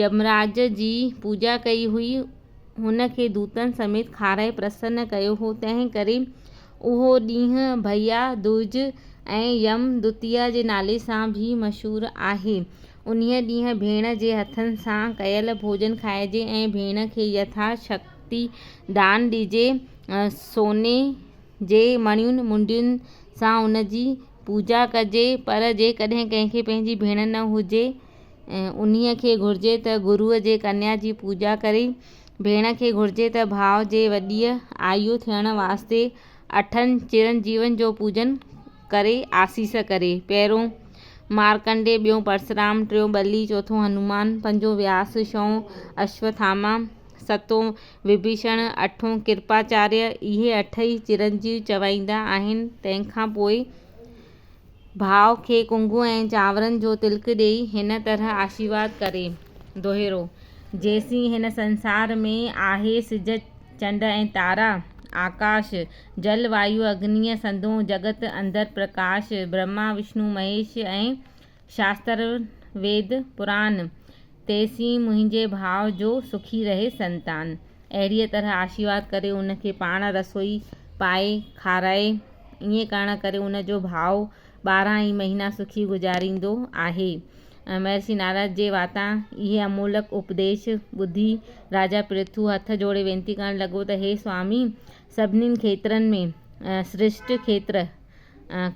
يمراج جي پوڄا ڪئي هئي، هن کي دوتن سميت کارائي پرسن ڪيو هو، تنهن ڪري اهو ڏينهن ڀئيا دوج ۽ يم دوتيا جي نالي سان به مشهور آهي. انهيء ڏينهن ڀيڻ جي هٿن سان ڪيل ڀوڄن کائجي ۽ ڀيڻ کي يٿا شڪتي دان ڏجي، سوني جي مڻين منڊين سان ان جي پوڄا ڪجي، پر جيڪڏهن ڪنهن کي پنهنجي ڀيڻ نه هجي، انهيء کي گهرجي ته گروء جي ڪنيا جي پوڄا ڪري. ڀيڻ کي گهرجي ته ڀاء جي وڏيء آيو ٿيڻ واسطي اٺن چرنجيون جو پوڄن ڪري آسيس ڪري. پهريون مارڪنڊي، ٻيون پرسرام، ٽيون ٻلي، چوٿون هنومان، پنجون وياس، شئون اشوٿاما، ستون وڀيشڻ، اٺون ڪرپاچاريه، اهي اٺ ئي چرنجيون چوائيندا آهن. تنهن کان پوء. ڀاء کي ڪنگهو ۽ چانورن جو تلڪ ڏيئي هن طرح آشيرواد ڪري. دوهيرو، جيسين هن سنسار ۾ آهي سج چنڊ ۽ تارا، آڪاش، جل وايو اگنيء سندون جڳت اندر پرڪاش، برهما وشنو مهيش ۽ شاستر ويد پران، تيسين منهنجي ڀاء جو سکي رهي سنتان. اهڙيء طرح آشيرواد ڪري ان کي پاڻ رسوئي پائي کارائي. ائين ڪرڻ ڪري ان جو ڀاء ٻارهن ئي مهينا سکي گذاريندو آهي. مهرشي نارد جي واتان اهي امولڪ اپديش ٻڌي راجا پرٿو هٿ جوڙي وينتي ڪرڻ لڳو ته هي سوامي! سڀني کيترن ۾ سريشٽ کيتر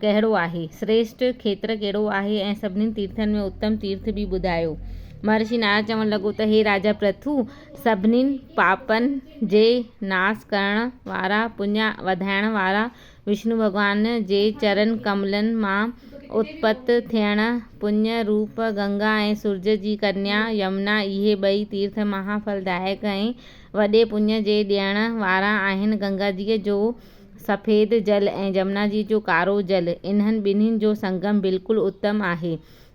ڪهڙو آهي؟ سريشٽ کيتر ڪهڙو آهي ۽ سڀني تيرٿن ۾ اتم تيرٿ به ٻڌايو. مهرشي نارد چوڻ لڳو ته هي راجا پرٿو! سڀني پاپن جي ناس ڪرڻ وارا، پڃ وڌائڻ وارا، وشنو ڀڳوان جي چرن ڪملن مان اتپت ٿيڻ، پڃ روپ گنگا ۽ سورج جي ڪنيا يمنا اهي ٻئي تيرٿ مها ڦل دائڪ ۽ وڏي پڃ جي ڏيڻ وارا آهن گنگاجيء جو سفيد جل ۽ جمنا جي جو ڪارو جل انهن ٻنهين جو سنگم بلڪل اتم آهي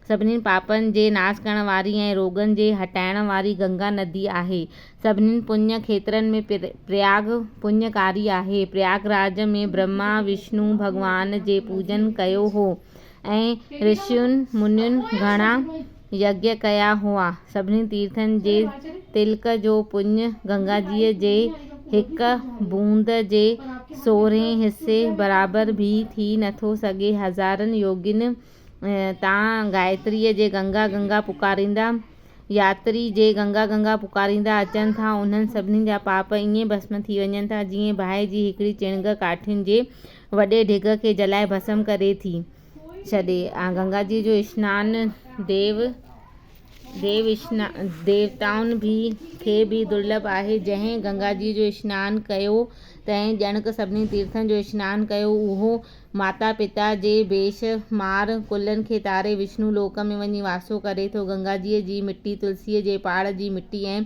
سڀني پاپن جي ناس ڪرڻ واري ۽ روڳن جي هٽائڻ واري گنگا ندي آهي سڀني پڃ کيترن ۾ پرياگ پڃ ڪاري آهي پرياگ راج ۾ برهما وشنو ڀڳوان جي پوڄن ڪيو هو ۽ رشين منين گهڻا يگيّ ڪيا هئا. سڀني تيرٿن جي تلڪ جو پڃ گنگاجيء جي هڪ بوند جي سورهين حصي برابر به ٿي نٿو سگهي. هزارن يوگين تان گائتريء جي گنگا گنگا پڪاريندا، ياتري جي گنگا گنگا پڪاريندا اچن ٿا، انهن سڀني جا پاپ ائين ڀسم ٿي وڃن ٿا، جيئن باهه جي هڪڙي چڻگ ڪاٺين جي وڏي ڍڳ کي جلائي ڀسم ڪري ٿي ڇڏي. گنگا جي جو اسنان ديو ديوتائن کي به درلڀ آهي. جنهن گنگا جي جو اسنان ڪيو تنهن ڄڻڪ سڀني تيرٿن جو اسنان ڪيو. اهو ماتا پتا جي بيشمار ڪلن کي تاري وشنو لوڪ ۾ وڃي واسو ڪري ٿو. گنگا جيء جي مٽي تلسيء جي پاڙ جي مٽي ۽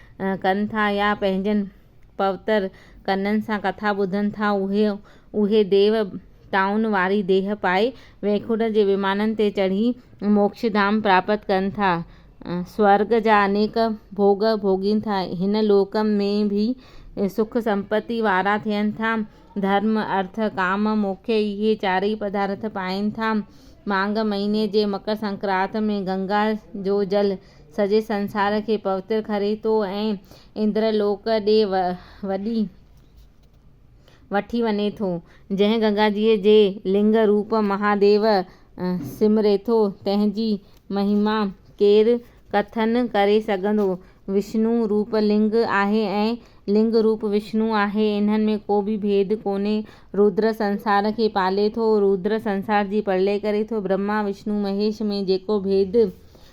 ڪن ٿا يا پنهنجن پوتر ڪنن سان ڪٿا ٻڌن ٿا اهي اهي ديو ٽائون واري ديهه پائي ويڪنٺ جي ومانن تي چڙهي موڪش ڌام پراپت ڪن ٿا سورڳ جا انيڪ ڀوڳ ڀوڳين ٿا هن لوڪ ۾ به سک سمپتي وارا ٿين ٿا ڌرم ارٿ ڪام موڪش اهي چارئي پدارٿ پائين ٿا ماڳ مهيني جي مڪر سنڪرات ۾ گنگا جو جل سڄي سنسار کي پوتر ڪري ٿو ۽ اندر لوڪ ڏي وڏي وٺي وڃي ٿو. جنهن گنگاجيء جي لنگ روپ مهاديو سمري ٿو، تنهن جي مهيما ڪير ڪٿن ڪري سگهندو؟ وشنو روپ لنگ آهي ۽ لنگ روپ وشنو آهي، انهن ۾ ڪو به ڀيد ڪونهي. رودر سنسار کي پالي ٿو، رودر سنسار جي پرلئه ڪري ٿو. برهما، وشنو، مهيش ۾ جيڪو ڀيد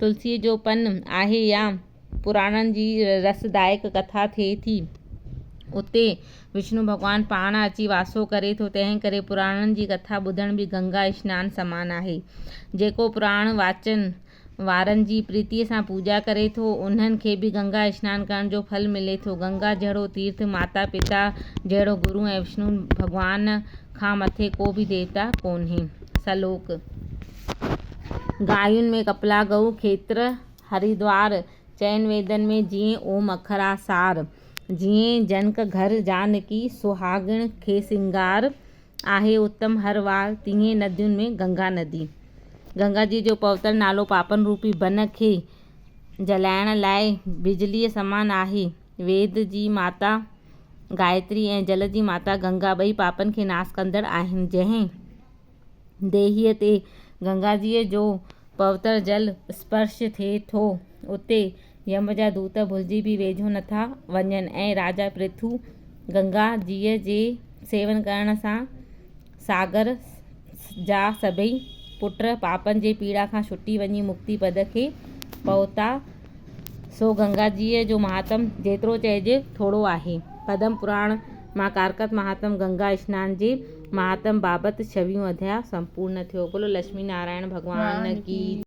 تلسيء جو پن آهي يا پراڻن جي رسدائڪ ڪٿا ٿئي ٿي. اتي وشنو ڀڳوان پاڻ اچي واسو ڪري ٿو، تنهن ڪري پراڻن جي ڪٿا ٻڌڻ به گنگا اشنان سمان آهي. جيڪو پراڻ واچن وارن جي پريتيء سان پوڄا ڪري ٿو، انهن کي به گنگا اشنان ڪرڻ جو ڦل ملي ٿو. گنگا جهڙو تيرٿ، ماتا پتا جهڙو گرو ۽ وشنو ڀڳوان کان مٿي ڪو به ديوتا ڪونهي. سلوڪ. گايون ۾ ڪپلا ڳئو کيتر هريدوار، چئن ويدن ۾ جيئن اوم اکر آ سار، جيئن جنڪ گهر جانڪي سهاڳڻ کي سينگار، آهي اتم هر وار تيئن ندين ۾ گنگا ندي. گنگا جي جو پوتل نالو پاپن روپي بن کي جلائڻ لاء بجليء سمان آهي. ويد جي ماتا گائتري ۽ جل جي ماتا گنگا ٻئي پاپن کي ناس ڪندڙ آهن، جنهن. ديهي تي گنگاجيء جو پوتر جل اسپرش ٿئي ٿو، اتي يم جا دوت ڀلجي به ويجهو نٿا وڃن ۽ راجا پرٿو گنگا جيء جي سيون ڪرڻ سان ساگر جا سڀئي پٽ پاپن جي پيڙا کان ڇٽي وڃي مڪتي پد کي پهتا سو گنگاجيء جو مهاتم جيترو چئجي ٿورو آهي. پدم پراڻ مان ڪارڪت مهاتم گنگا اسنان جي مهاتم بابت ڇويهون اڌيا سمپورن ٿيو. بولو لڇمي نارائڻ ڀڳوان ڪي جي.